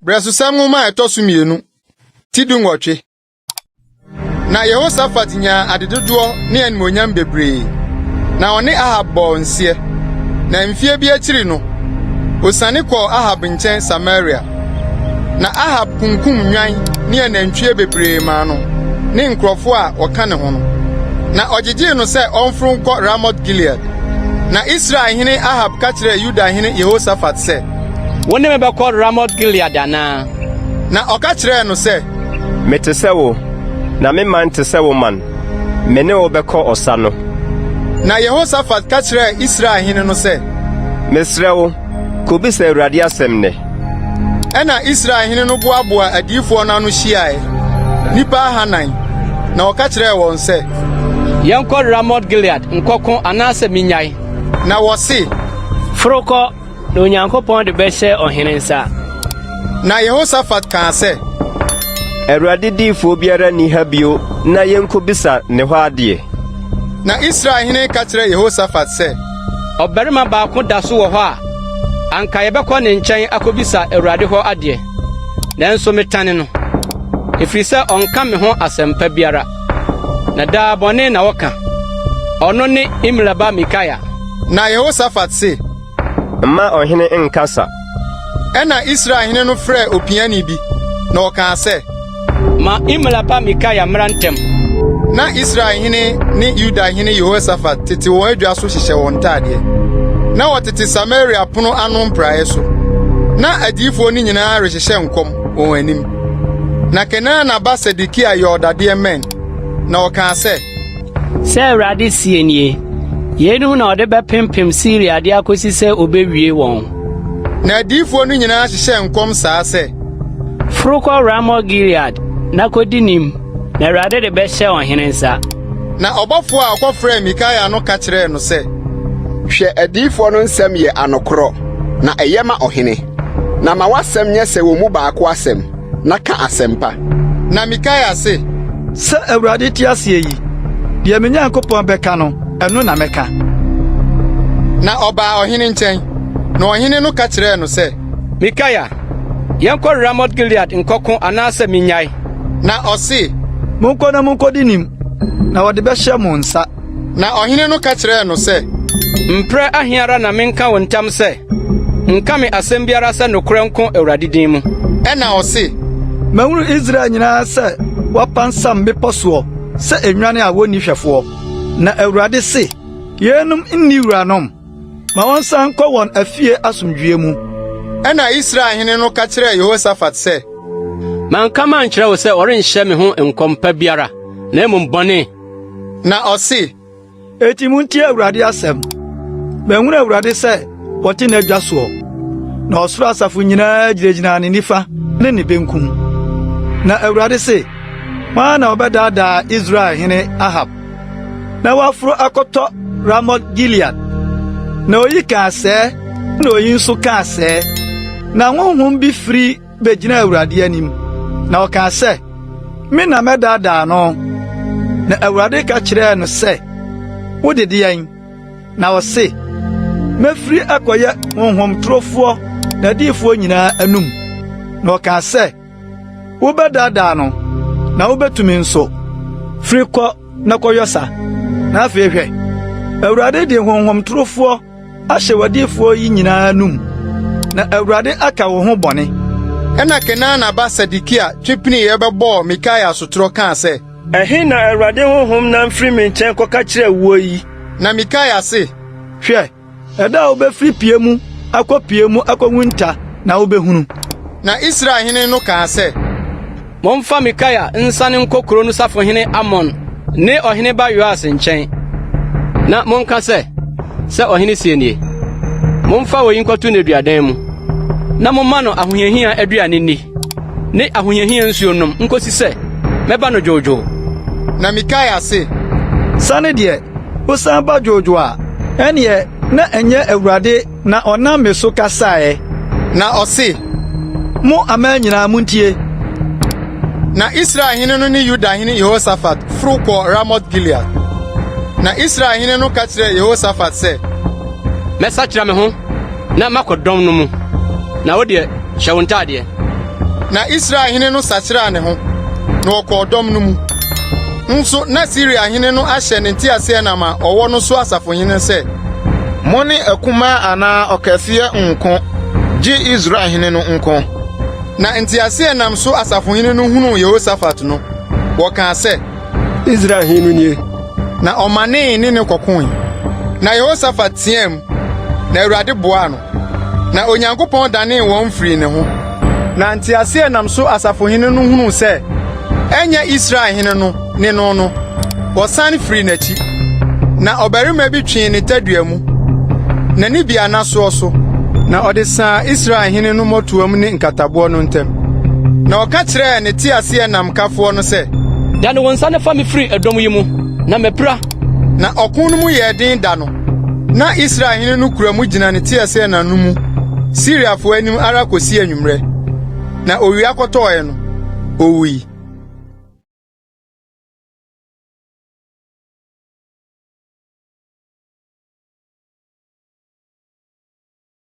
Brɛsosɛm nwoma a ɛtɔ so mmienu ti du nwɔtwe. Na Yehosafat nyaa ade dodoɔ ne animuonyam bebree, na ɔne Ahab bɔɔ nseɛ. Na mfeɛ bi akyiri no, osiane kɔɔ Ahab nkyɛn Samaria. Na Ahab kunkum nnwan ne anantwie bebree maa no ne nkurɔfo a wɔka ne ho no, na ɔgyegyee no sɛ ɔmforo nkɔ Ramot-Gilead. Na Israel hene Ahab ka kyerɛɛ Yuda hene Yehosafat sɛ, Wo ne me bɛkɔ Ramot-Gilead anaa? Na ɔka kyerɛɛ no sɛ, Mete sɛ wo, na me man te sɛ wo man. Me ne wo bɛkɔ ɔsa no. Na Yehosafat ka kyerɛɛ Israel hene no sɛ, Mesrɛ wo, kobisa Awurade asɛm nnɛ. Ɛnna Israel hene no boaboaa adiyifoɔ no ano hyiaeɛ, nnipa ahanan, na ɔka kyerɛɛ wɔn sɛ. Yɛnkɔ Ramot-Gilead nkɔko anaasɛ mennyae? Na wɔse. Foro kɔ, na Onyankopɔn de bɛhyɛ ɔhene nsa. Na Yehosafat kaa sɛ. Awurade diyifoɔ biara nni ha bio na yɛnkɔbisa ne hɔ adeɛ. Na Israel hene ka kyerɛɛ Yehosafat sɛ. Ɔbarima baako da so wɔ hɔ a, anka yɛbɛkɔ ne nkyɛn akobisa Awurade hɔ adeɛ. Nanso metane no, ɛfiri sɛ ɔnka me ho asɛmpa biara, na daa bɔne na ɔka. Ɔno ne Imla ba Mikaia. Na Yehosafat se. Mma ɔhene nnkasa. Ɛnna Israel hene no frɛɛ opiani bi, na ɔkaa sɛ, Ma Imla ba Mikaia mmra ntɛm. Na Israel hene ne Yuda hene Yehosafat tete wɔn adwa so hyehyɛ wɔn ntadeɛ. Na wɔtete Samaria pono ano mpraeɛ so. Na adiyifoɔ no nyinaa rehyehyɛ nkɔm wɔ wɔn anim. Na Kenaana ba Sedekia yɛ ɔdadeɛ mmɛn, na ɔkaa sɛ, Sɛ Awurade seɛ nie, Yeinom na ɔde bɛpempem Siria de akɔsi sɛ ɔbɛwie wɔn. Na adiyifoɔ no nyinaa hyehyɛɛ nkɔm saa sɛ. Foro kɔ Ramot-Gilead na kɔdi nim, na Awurade de bɛhyɛ ɔhene nsa. Na ɔbɔfoɔ a ɔkɔfrɛɛ Mikaia no ka kyerɛɛ no sɛ. Hwɛ, adiyifoɔ no nsɛm yɛ anokorɔ, na ɛyɛ ma ɔhene. Na ma w'asɛm nyɛ sɛ wɔn mu baako asɛm. na ka asɛmpa. Na Mikaia se. Sɛ Awurade te aseɛ yi, deɛ me Nyankopɔn bɛka no, ɛno na mɛka. Na ɔbaa ɔhene nkyɛn, na ɔhene no ka kyerɛɛ no sɛ. Mikaia, yɛnkɔ Ramot-Gilead nkɔko anaasɛ mennyae? Na ɔse. Monkɔ na monkɔdi nim, na wɔde bɛhyɛ mo nsa. Na ɔhene no ka kyerɛɛ no sɛ. Mprɛ ahe ara na menka wo ntam sɛ, Nka me asɛm biara sɛ nokorɛ nko Awurade din mu? Ɛnna ɔse. Mahunu Israel nyinaa sɛ wɔapansam mmepɔ soɔ sɛ nnwan a wɔnni hwɛfoɔ. Na Awurade se, Yeinom nni wuranom. Ma wɔnsan nkɔ wɔn afie asomdwoeɛ mu. Ɛnna Israel hene no ka kyerɛɛ Yehosafat sɛ. Manka mankyerɛ wo sɛ wɔrenhyɛ me ho nkɔm pa biara, na mmom bɔne? Na ɔse. Enti muntie Awurade asɛm, Mahunu Awurade sɛ ɔte n'adwa soɔ, na ɔsoro asafo nyinaa gyinagyina ne nifa ne ne benkum. Na Awurade se, Hwan na ɔbɛdaadaa Israel hene Ahab, na waforo akɔtɔ Ramot Gilead? Na oyi kaa sɛɛ, na oyi nso kaa sɛɛ, na honhom bi firi begyinaa Awurade anim, na ɔkaa sɛ, Me na mɛdaadaa no. Na Awurade ka kyerɛɛ no sɛ, Wode deɛn? Na ɔse, Mɛfiri akɔyɛ honhom torofoɔ na adiyifoɔ nyinaa anum. Na ɔkaa sɛ, Wobɛdaadaa no, na wobɛtumi nso. Firi kɔ na kɔyɔ sa. Na afei hwɛ, Awurade de honhom torofoɔ ahyɛ w'adiyifoɔ yi nyinaa anom, na Awurade aka wo ho bɔne. Ɛnna Kenaana ba Sedekia twe piniiɛ bɛbɔɔ Mikaia sotorɔ kaa sɛ, Ɛhe na Awurade honhom nam firi me nkyɛn kɔka kyerɛɛ woɔ yi? Na Mikaia se, Hwɛ, ɛda a wobɛfiri pie mu akɔ pie mu akɔwinta na wobɛhunu. Na Israel hene no kaa sɛ. Momfa Mikaia nsane nkɔ kurow no safohene Amon ne ɔhene ba Yoas nkyɛn, na monka sɛ, 'Sɛ ɔhene se nie, Momfa oyi nkɔto nneduadan mu, na momma no ahohiahia aduane nni ne ahohiahia nsuo nnom nkosi sɛ mɛba no dwoodwoo. Na Mikaia se, Sane deɛ, wosan ba dwoodwoo a, ɛnneɛ na ɛnyɛ Awurade Na ɔnam me so kasaeɛ. Na ɔse, Mo aman nyinaa, montie! Na Israel hene no ne Yuda hene Yehosafat foro kɔɔ Ramot-Gilead. Na Israel hene no ka kyerɛɛ Yehosafat sɛ. Mɛsakyera me ho na makɔ dɔm no mu, na wo deɛ, hyɛ wo ntadeɛ. Na Israel hene no sakyeraa ne ho, na ɔkɔɔ dɔm no mu. Nso na Siria hene no ahyɛ ne nteaseɛnam a ɔwɔ no so asafohene sɛ. Mo ne akumaa anaa ɔkɛseɛ nko, gye Israel hene no nko. Na nteaseɛnam so asafohene no hunuu Yehosafat no, wɔkaa sɛ. Israel hene no nie! Na ɔmanee ne ne kɔkoe. Na Yehosafat teaam, na Awurade boaa no. Na Onyankopɔn danee wɔn firii ne ho. Na nteaseɛnam so asafohene no hunuu sɛ ɛnyɛ Israel hene no ne no no, ɔsan firii n'akyi. Na ɔbarima bi twee ne tadua mu, na ne bi anasoɔ so. Na ɔde saa Israel hene no mmɔtoam ne nkataboɔ no ntam. Na ɔka kyerɛɛ ne teaseɛnamkafoɔ no sɛ. Dane wo nsa na fa me firi ɛdɔm yi mu, na mapira. Na ɔko no mu yɛɛ den da no, na Israel hene no kura mu gyina ne teaseɛnam no mu Siriafo anim ara kosii anwummere. Na owia kɔtɔɔe no, owui.